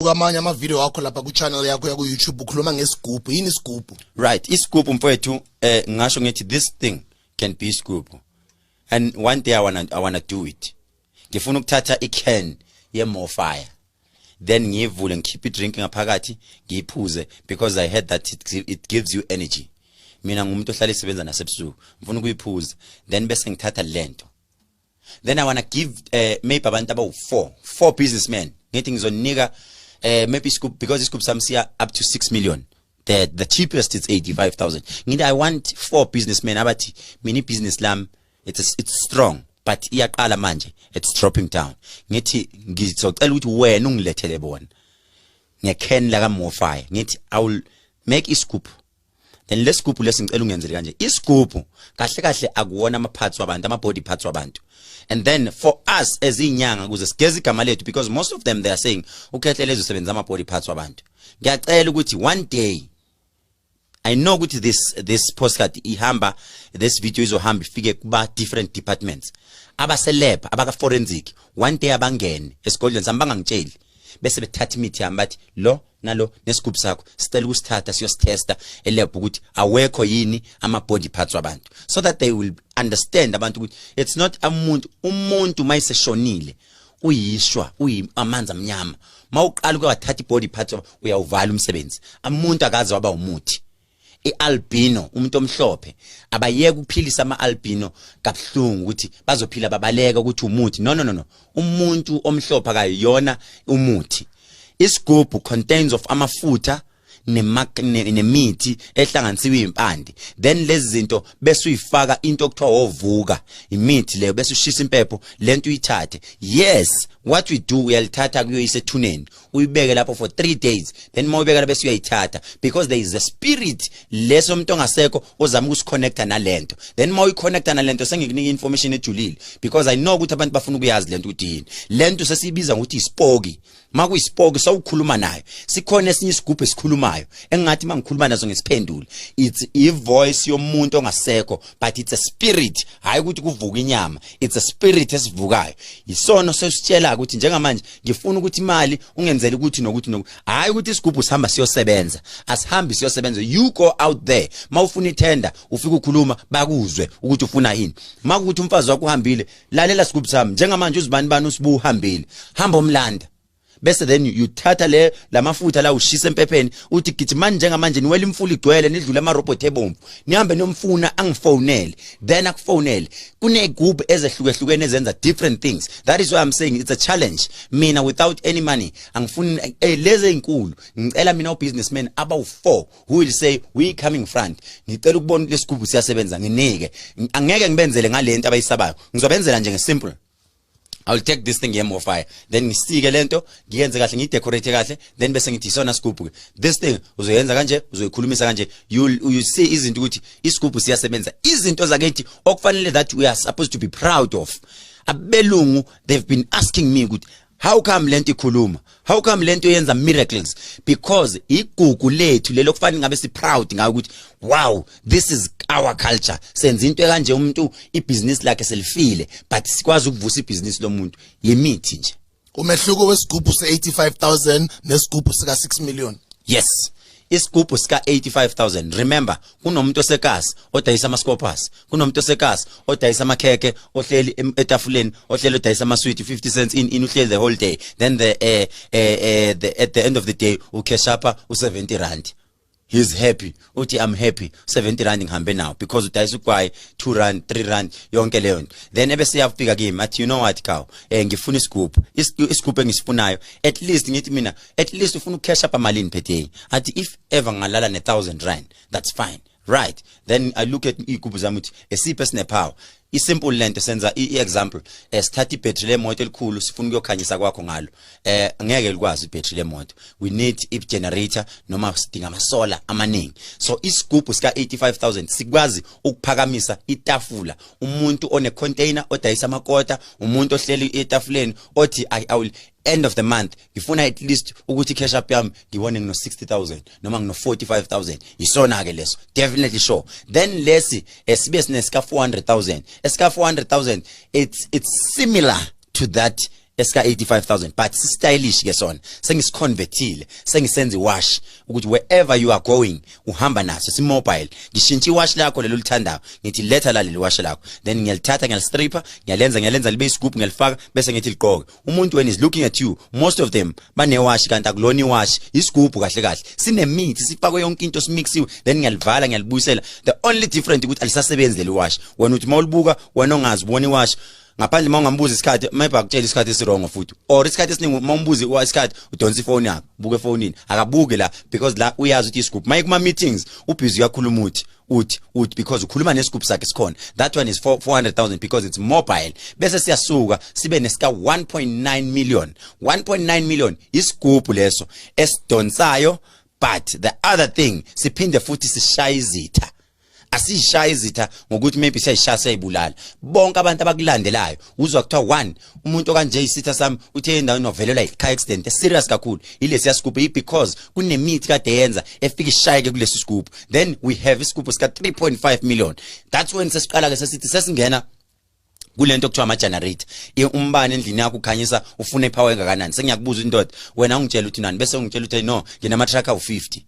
ngibuka amanye amavideo akho lapha ku-channel yakho yaku-youtube ukhuluma ngesigubhu yini isigubhu right isigubhu mfowethu eh ngasho ngithi this thing can be isigubhu and one day I wanna, I wanna do it ngifuna ukuthatha i-can ye-more fire then ngiyivule ngikhiphe i-drink ngaphakathi ngiyiphuze because i heard that it, it gives you energy mina ngumuntu ohlala isebenza nasebusuku ngifuna ukuyiphuza then bese ngithatha lento then i wanna give uh, maybe abantu abawu four four businessmen ngithi ngizonika uh, maybe iscoop because iscoop sami siya up to 6 million the the cheapest it's 85000 ngithi i want four businessmen abathi mini business lam it's it's strong but iyaqala manje it's dropping down ngithi ngizocela ukuthi wena ungilethele bona ngekhen la ka mofire ngithi i will make iscoop then lesigubhu lesi ngicela ungenzele kanje isigubhu kahle kahle akuwona ama parts wabantu ama body parts wabantu and then for us as inyanga kuze sigeze igama lethu because most of them they are saying ukhethe lezo sebenza ama body parts wabantu ngiyacela ukuthi one day I know ukuthi this this postcard ihamba this video izohamba ifike kuba different departments abaselebha abaka forensic one day abangene esigodlweni sami bangangitsheli bese bethatha imithi yami bathi lo nalo nesigubhu sakho sicela ukusithatha siyositesta elab ukuthi awekho yini ama body parts wabantu so that they will understand abantu ukuthi it's not umuntu umuntu mayiseshonile uyishwa uyimanzi amnyama mawuqala ukwathatha ibody parts uyawuvala umsebenzi umuntu akaze waba umuthi ialbino umuntu omhlophe abayeke ukuphilisa amaalbino kabuhlungu ukuthi bazophila babaleka ukuthi umuthi no no no no umuntu omhlophe akayona umuthi isigubhu contains of amafutha nemithi ehlanganisiwe impande then lezi zinto bese uyifaka into okuthiwa ovuka imithi leyo bese ushisa impepho lento uyithathe yes what we do uyalithatha kuyoyisa ethuneni uyibeke lapho for 3 days then uma uyibeka lapho siyayithatha because there is a spirit leso umuntu ongasekho ozama ukusikhonecta nalento then uma uyikhonecta nalento sengikunika information ejulile because i know ukuthi abantu bafuna ukuyazi lento ukuthi yini lento sesiyibiza ngokuthi isipoki makuyisipoki sawukhuluma nayo sikhona esinye isigubhu esikhulumayo engathi mangikhuluma nazo ngesiphendule it's i voice yomuntu ongasekho but it's a spirit hayi ukuthi kuvuka inyama it's a spirit esivukayo isona sesitshela ukuthi njengamanje ngifuna ukuthi imali ungenzele ukuthi nokuthi nokuthi hayi ukuthi isigubhu sihamba siyosebenza asihambi siyosebenza you go out there mawufuna itender ufika ukhuluma bakuzwe ukuthi ufuna yini makuthi umfazi wakho uhambile lalela sigubhu sami njengamanje uzibani bani usibu uhambile hamba umlanda bese then you thatha le lamafutha la ushisa empepheni uthi gijimani njengamanje niwela imfula igcwele nidlule ama robot ebomvu nihambe nomfuna angifonele then akufonele kune group ezehlukehlukene ezenza different things that is why i'm saying it's a challenge mina without any money angifuni eh, lezi ezinkulu ngicela mina ubusinessman abawu 4 who will say we coming front ngicela ukubona lesigubu siyasebenza nginike angeke ngibenzele ngalento abayisabayo ngizobenzela nje ngesimple I will take this thing here more fire then ngisike lento ngiyenze kahle ngidecorate kahle then bese ngithi isona scoop ke this thing uzoyenza kanje uzoyikhulumisa kanje you you see izinto ukuthi iscoop siyasebenza izinto zakethi okufanele that we are supposed to be proud of abelungu they've been asking me ukuthi how come lento ikhuluma how come lento yenza miracles because igugu lethu lelo kufanele ngabe si proud ngayo ukuthi wow this is our culture senza into kanje umuntu ibusiness lakhe selifile but sikwazi ukuvusa ibusiness lomuntu yimithi nje umehluko wesigubhu se85000 nesigubhu sika 6 million yes isigubhu sika 85000 remember kunomuntu osekasi odayisa ama scoopers kunomuntu osekasi odayisa amakheke ohleli etafuleni ohleli odayisa ama sweet 50 cents in in uhleli the whole day then the eh eh the at the end of the day u cash up u 70 rand he's happy uthi i'm happy 70 rand ngihambe nawo because udayisa ugwayi 2 rand 3 rand yonke leyo nto then ebese yafika kimi athi you know what kaw eh ngifuna isigubhu isigubhu engisifunayo at least ngithi mina at least ufuna ucash up amalini phetheyi athi if ever ngalala ne 1000 rand that's fine right then i look at igubu zami ukuthi esiphe sinepower isimple lento senza iexample eh, sithatha ibattery lemoto elikhulu sifuna ukuyokhanyisa kwakho ngalo eh ngeke likwazi ibattery lemoto we need i generator noma sidinga ama solar amaningi so isigubhu sika 85000 sikwazi ukuphakamisa itafula umuntu one container odayisa amakota umuntu ohleli etafuleni othi i will end of the month ngifuna at least ukuthi cash up yami ngibone ngino 60000 noma ngino 45000 yisona ke leso definitely sure then lesi esibe eh, sine sika 400000 esika 400000 it's it's similar to that esika 85000 but si stylish ke sona sengisiconvertile sengisenza iwash ukuthi wherever you are going uhamba naso si mobile ngishintsha iwash lakho lelo lithandayo ngithi letha la leli wash lakho then ngiyalithatha ngiyalistripper ngiyalenza ngiyalenza libe isigubhu ngiyalifaka bese ngithi liqoke umuntu when is looking at you most of them banewashi kanti akulona iwashi isigubhu kahle kahle sinemithi sifakwe yonke into simixiwe then ngiyalivala ngiyalibuyisela the only different ukuthi alisasebenzi leli washi wena uthi mawulibuka wena ongazi ubona iwashi ngaphandle uma ungambuza isikhathi maybe akutshela isikhathi esirongo futhi or isikhathi esiningi uma umbuzi isikhathi udonsa ifoni yakho buke efonini akabuke la because la uyazi ukuthi isigubhu maye kuma meetings ubhizi uyakhuluma uthi uthi uthi because ukhuluma nescoop sakhe sikhona that one is 400000 because it's mobile bese siyasuka sibe nesika 1.9 million 1.9 million isigubhu leso esidonsayo but the other thing siphinde futhi sishaya izitha asishaya izitha ngokuthi maybe siyayishaya siyayibulala bonke abantu abakulandelayo uzwa kuthiwa one umuntu okanje isitha sami uthe endaweni novelelwa i-car accident serious kakhulu ilesi yasigubhu i because kunemithi kade yenza efika ishayeke kulesi sigubhu then we have isigubhu sika 3.5 million that's when sesiqala ke sesithi sesingena kulento kuthiwa ama generator umbani endlini yakho ukhanyisa ufuna ipower engakanani sengiyakubuza indoda wena ungitshela ukuthi nani bese ungitshela ukuthi no nginama truck awu 50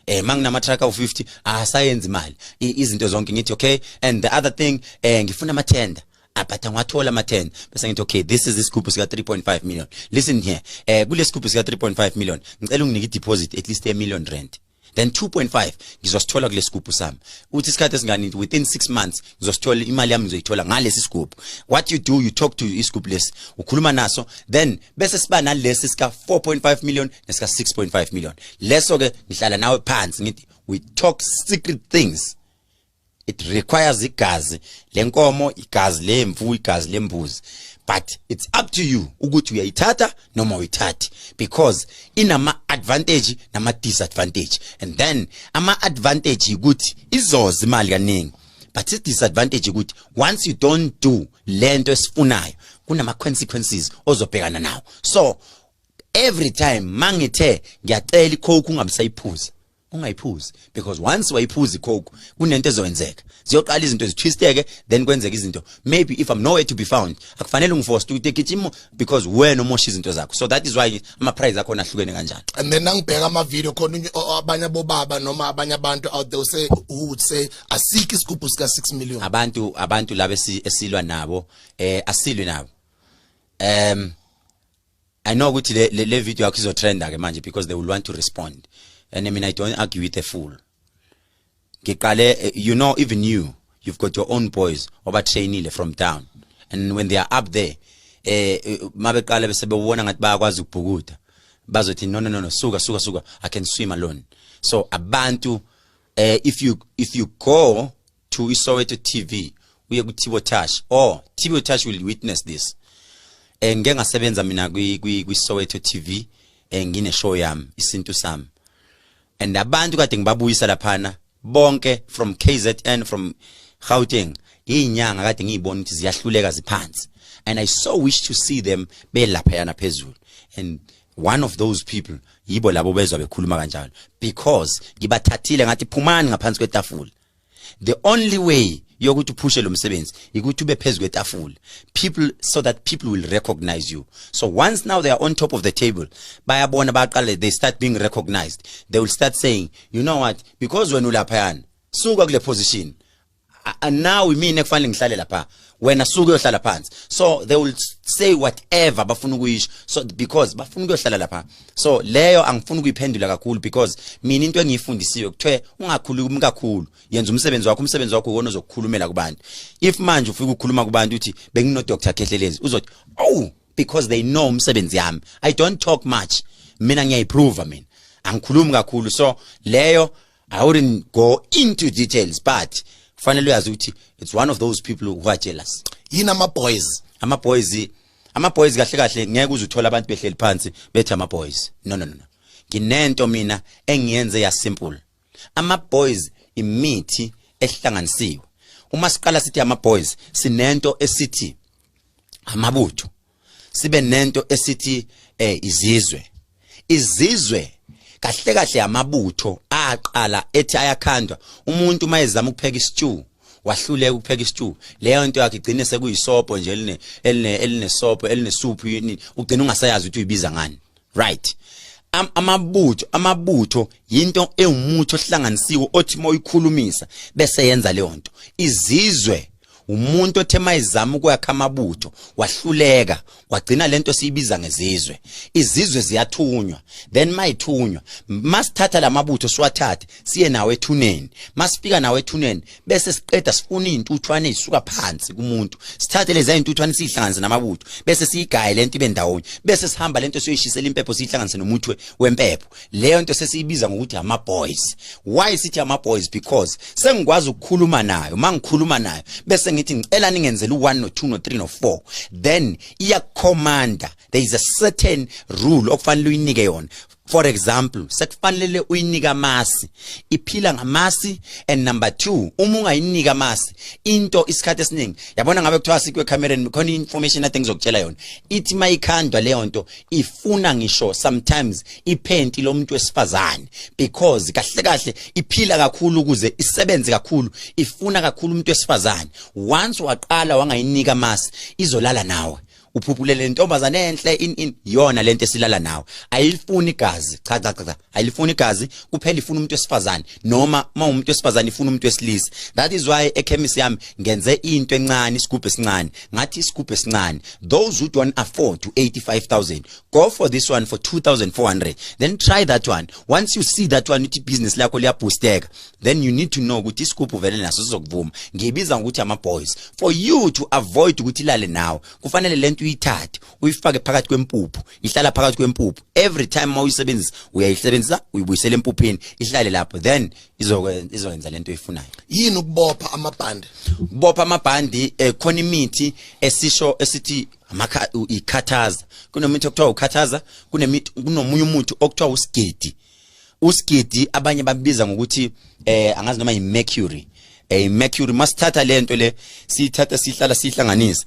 eh manginama truck awu 50 asayenza imali izinto zonke ngithi okay and the other thing eh ngifuna ama tender ah, but angiwathola ama 10 bese ngithi okay this is isigubhu sika 3.5 million listen here eh kulesigubhu sika 3.5 million ngicela unginike ideposit at least a million rand then 2.5 ngizosithola kulesigubhu sami uthi isikhathi esingani within 6 months uzosithola imali yami ngizoyithola ngalesi sigubhu what you do you talk to isigubhu lesi ukhuluma naso then bese siba nalesi sika 4.5 million nesika 6.5 million leso ke ngihlala nawe phansi ngithi we talk secret things it requires igazi lenkomo igazi lemvu igazi lembuzi but it's up to you ukuthi uyayithatha noma uyithathi because inama advantage nama disadvantage and then ama advantage ukuthi izoza imali kaningi but i disadvantage ukuthi once you don't do lento esifunayo kunama consequences ozobhekana nawo so every time mangithe ngiyacela icoke ungabisayiphuza ungayiphuzi because once wayiphuza icoke kunento ezoyenzeka ziyoqala izinto zithwisteke then kwenzeka izinto maybe if i'm nowhere to be found akufanele ungiforce to take it because wena umosha izinto zakho so that is why ama prize akho nahlukene kanjani and then angibheka ama video khona abanye bobaba noma abanye abantu out there say who would say asiki isigubhu sika 6 million abantu abantu laba esilwa nabo eh asilwe nabo um I know ukuthi le, le, le video yakho izotrenda ke manje because they will want to respond and I mean I don't argue with a fool ngiqale eh, you know even you you've got your own boys obatrainile from down and when they are up there eh, eh mabeqala bese bewona ngathi bayakwazi ukubhukuda bazothi no no no no suka suka suka i can swim alone so abantu eh if you if you go to isoweto tv uye kuthibo tash or tibo tash will witness this eh ngike ngasebenza mina kwi kwi soweto tv eh ngine show yami isintu sami and abantu kade ngibabuyisa laphana bonke from kzn from gauteng inyanga kade ngiyibona ukuthi ziyahluleka ziphansi and i so wish to see them belapha yana phezulu and one of those people yibo labo bezwa bekhuluma kanjalo because ngibathathile ngathi phumani ngaphansi kwetafula the only way yokuthi uphushe lo msebenzi ukuthi ube phezu kwetafula people so that people will recognize you so once now they are on top of the table bayabona baqale they start being recognized they will start saying you know what because wena ulaphayana suka kule position now imina kufanele ngihlale lapha wena suke uyohlala phansi so they will say whatever bafuna ukuyisho so because bafuna ukuyohlala lapha so leyo angifuni ukuyiphendula kakhulu because mina into engiyifundisiwe kuthiwe ungakhulumi kakhulu yenza umsebenzi wakho umsebenzi wakho uwona ozokukhulumela kubantu if manje ufika ukukhuluma kubantu uthi bengino Dr Khehlelezi uzothi oh because they know umsebenzi yami i don't talk much mina ngiyayiprove mina angikhulumi kakhulu so leyo i wouldn't go into details but kufanele uyazi ukuthi it's one of those people who are jealous yini ama boys ama boys ama boys kahle kahle ngeke uze uthole abantu behleli phansi bethi ama boys no no no nginento mina engiyenze ya simple ama boys imithi ehlanganisiwe uma siqala sithi ama boys sinento esithi amabutho sibe nento esithi eh izizwe izizwe kahle kahle amabutho aqala ethi ayakhandwa umuntu mayezama ukupheka istew wahluleka ukupheka istew leyo nto yakhe igcine sekuyisopo nje eline eline elinesopo elinesuphu yini ugcina ungasayazi ukuthi uyibiza ngani right Am, amabutho amabutho yinto ewumuthi ohlanganisiwe othi moyikhulumisa bese yenza leyo nto izizwe umuntu othe mayizama ukwakha amabutho wahluleka wagcina lento siyibiza ngezizwe izizwe ziyathunywa then mayithunywa masithatha lamabutho siwathathe siye nawo ethuneni masifika nawo ethuneni bese siqeda sifuna izintuthwane ezisuka phansi kumuntu sithathe lezi izintuthwane sihlanganise namabutho bese siyigaye lento ibe ndawonye bese sihamba lento siyoyishisela impepho sihlanganise nomuthi wempepho leyo nto sesiyibiza ngokuthi ama boys why sithi ama boys because sengikwazi ukukhuluma nayo mangikhuluma nayo bese ngithi ngicela ningenzele u1 no 2 no 3 no 4 then iya commander there is a certain rule okufanele uyinike yona for example sekufanele uyinika amasi iphila ngamasi and number 2 uma ungayinika amasi into isikhathi esiningi yabona ngabe kuthiwa sikwe camereni khona information i think zokutshela yona ithi mayikhandwa leyo nto ifuna ngisho sometimes iphenti lomuntu wesifazane because kahle kahle iphila kakhulu ukuze isebenze kakhulu ifuna kakhulu umuntu wesifazane once waqala wangayinika amasi izolala nawe uphuphule le ntombazane enhle in in yona lento esilala nawe ayilifuni igazi cha cha cha ayilifuni igazi kuphela ifuna umuntu wesifazane noma uma umuntu wesifazane ifuna umuntu wesilisa that is why ekhemisi yami ngenze into encane isigubhu esincane ngathi isigubhu esincane those who don't afford to 85000 go for this one for 2400 then try that one once you see that one ithi business lakho liyaboosteka then you need to know ukuthi isigubhu vele naso sizokuvuma ngiyibiza ngokuthi ama boys for you to avoid ukuthi ilale nawe kufanele lento uyithathe uyifake phakathi kwempuphu ihlala phakathi kwempuphu every time uma uyisebenzisa uyayisebenzisa uyibuyisela empuphini ihlale lapho then izokwenza izokwenza lento oyifunayo yini ukubopha amabhande ukubopha amabhandi eh, khona imithi esisho esithi amakha ikhathaza kunomithi okuthiwa ukhathaza kunemithi kunomunye umuthi okuthiwa usigedi usigidi abanye babiza ngokuthi eh angazi noma yimercury eh mercury masithatha lento le sithatha sihlala sihlanganisa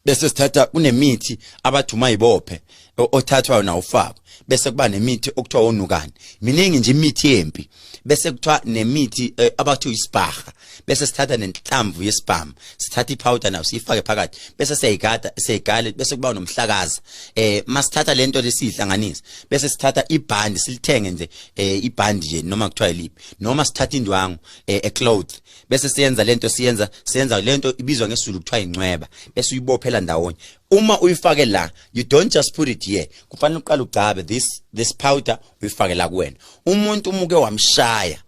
bese sithatha kunemithi abathuma ibophe othathwayo na ufako bese kuba nemithi okuthiwa onukani miningi nje imithi yempi bese kuthiwa nemithi eh, abathi uyisibaha bese sithatha nenhlamvu yesibhamu sithatha iphawuda nayo siyifake phakathi bese siyayigada siyayigale bese kuba nomhlakaza eh masithatha lento lesihlanganisa bese sithatha ibhandi silithenge nje eh ibhandi nje noma kuthiwa yiliphi noma sithatha indwangu eh, a cloth bese siyenza lento siyenza siyenza lento ibizwa ngesizulu kuthiwa incweba bese uyibophela ndawonye uma uyifake la you don't just put it here kufanele uqale ugcabe this this powder uyifake la kuwena umuntu umuke wamshaya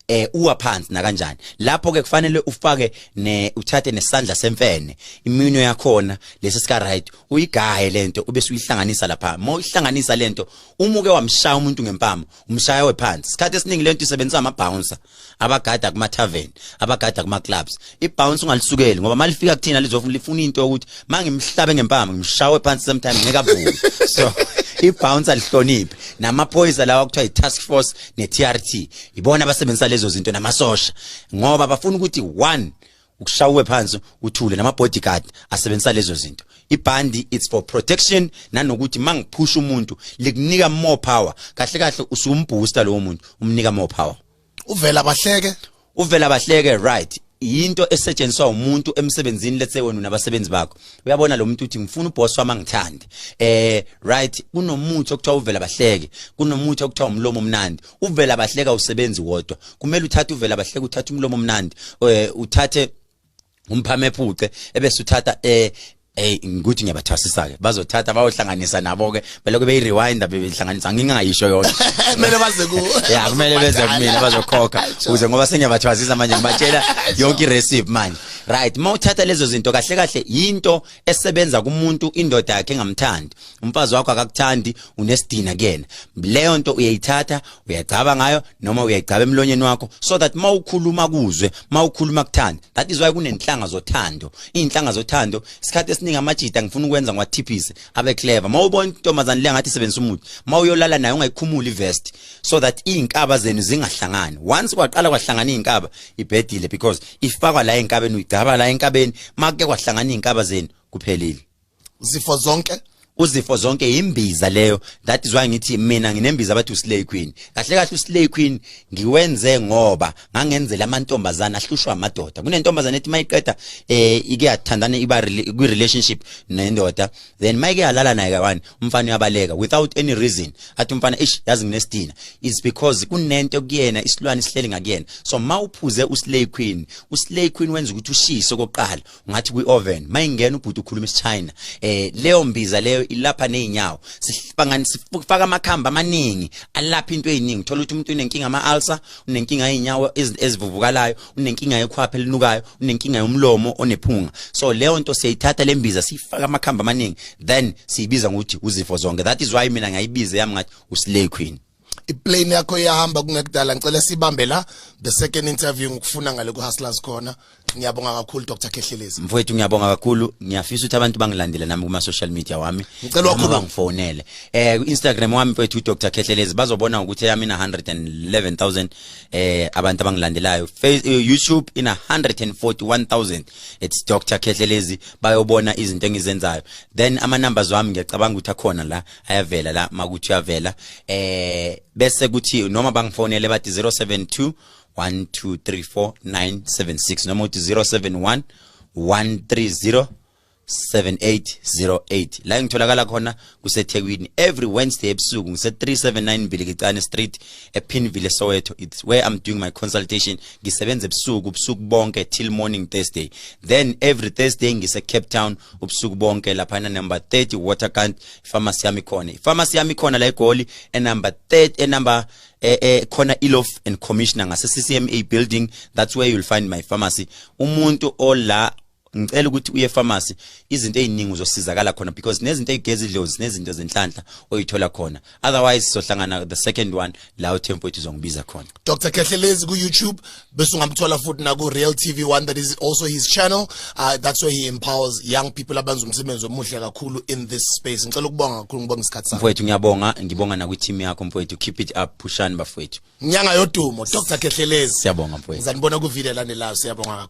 eh uwa phansi nakanjani lapho ke kufanele ufake ne uthathe nesandla semfene iminwe yakhona lesi sika right uyigaye lento ube suyihlanganisa lapha uma uyihlanganisa lento umuke wamshaya umuntu ngempama umshaya wephansi isikhathi esiningi lento isebenzisa ama bouncer abagada kuma tavern abagada kuma clubs ibounce ungalisukeli ngoba malifika kuthina lizofuna lifuna into ukuthi mangimhlabe ngempama ngimshawe phansi sometimes ngeke avuke so ibounce alihloniphi namaphoyisa lawa kuthiwa i-task force ne-trt ibona abasebenzisa lezo zinto namasosha ngoba bafuna ukuthi one ukushawe phansi uthule nama-bodyguard asebenzisa lezo zinto ibhandi it's for protection nanokuthi mangiphusha umuntu likunika more power kahle kahle usumbooster lowo muntu umnika more power uvela bahleke uvela bahleke right yinto esetshenziswa umuntu emsebenzini let's say wena nabasebenzi bakho uyabona lo muntu uthi ngifuna uboss wami angithande eh right kunomuthi okuthiwa uvela bahleke kunomuthi okuthiwa umlomo omnandi uvela bahleka usebenzi wodwa kumele uthathe uvela bahleke uthathe umlomo omnandi eh, uthathe umphame phuce ebese uthatha eh eh ngikuthi ngiyabathwasisa ke bazothatha bayohlanganisa nabo ke belokhu beyi rewind bebehlanganisa ngingayisho yona kumele baze ku ya kumele beze kumina bazokhokha uze ngoba sengiyabathwasisa manje ngibatshela yonke irecipe manje right mawuthatha lezo zinto kahle kahle yinto esebenza kumuntu indoda yakhe engamthandi umfazi wakho akakuthandi unesidina kuyena leyo nto uyayithatha uyagcaba ngayo noma uyayigcaba emlonyeni wakho so that mawukhuluma kuzwe mawukhuluma kuthanda that is why kunenhlanga zothando inhlanga zothando isikhathi esiningi amajita ngifuna ukwenza ngwathiphise abe clever mawubona intombazane le ngathi sebenzisa umuthi mawuyolala nayo ungayikhumuli vest so that izinkaba zenu zingahlangani once kwaqala kwahlangana izinkaba ibhedile because ifakwa la enkabeni uyigcaba la enkabeni make kwahlangana izinkaba zenu kuphelile zifo zonke uzifo zonke imbiza leyo that is why ngithi mina nginembiza abathi uslay queen kahle kahle uslay queen ngiwenze ngoba ngangenzela amantombazana ahlushwa amadoda kunentombazana ethi mayiqeda eh ike yathandana iba kwi relationship nendoda then mayike yalala naye kawani umfana uyabaleka without any reason athi umfana ish yazi nginesidina is because kunento kuyena isilwane sihleli ngakuyena so mawuphuze uslay queen uslay queen wenza ukuthi ushise okokuqala ngathi kwi-oven mayingena ubhuti ukhuluma isichina eh leyo mbiza leyo ilapha nezinyawo sifangani sifaka amakhamba amaningi alapha into eziningi thola ukuthi umuntu unenkinga ama-ulcer unenkinga yezinyawo ezivuvukalayo unenkinga yekhwapha elinukayo unenkinga yomlomo onephunga so leyo nto siyayithatha le mbiza siyifaka amakhamba amaningi then siyibiza ngokuthi uzifo zonke that is why mina ngayibiza yami ngathi uslay queen iplane yakho iyahamba kungekudala ngicela sibambe la the second interview ngikufuna ngale ku hustlers khona ngiyabonga kakhulu Dr Khehlelezi mfowethu ngiyabonga kakhulu ngiyafisa ukuthi abantu bangilandele nami kuma social media wami ngicela wakhulu bangifonele eh Instagram wami mfowethu Dr Khehlelezi bazobona ukuthi yami ina 111000 eh abantu abangilandelayo eh, YouTube ina 141000 it's Dr Khehlelezi bayobona izinto engizenzayo then ama numbers wami ngiyacabanga ukuthi akhona la ayavela la makuthi uyavela eh bese kuthi noma bangifonele bathi 072 1234976 noma uthi 071 130 7808 la ngitholakala khona kusethekwini every wednesday ebusuku ngise-379 mbilikicane street epinville soweto it's where i'm doing my consultation ngisebenza ebusuku ubusuku bonke till morning thursday then every thursday ngise-cape town ubusuku bonke laphana number 30 waterkant ifamasi yami khona ifamasi yami khona la egoli enumber 3 enumber eh, eh khona ilof and commissioner ngase CCMA building that's where you'll find my pharmacy umuntu ola ngicela ukuthi uye pharmacy izinto eziningi uzosizakala khona because nezinto ezigeza idlozi nezinto zenhlanhla oyithola khona otherwise sohlangana the second one la uTempo ethi uzongibiza khona Dr. Kehlelezi ku YouTube bese ungamthola futhi na ku Real TV one that is also his channel uh, that's where he empowers young people abenza umsebenzi omuhle kakhulu in this space ngicela ukubonga kakhulu ngibonga isikhathi sakho mfowethu ngiyabonga ngibonga na kwi team yakho mfowethu keep it up pushani bafowethu nyanga yodumo Dr. Kehlelezi siyabonga mfowethu ngizanibona ku video landelayo siyabonga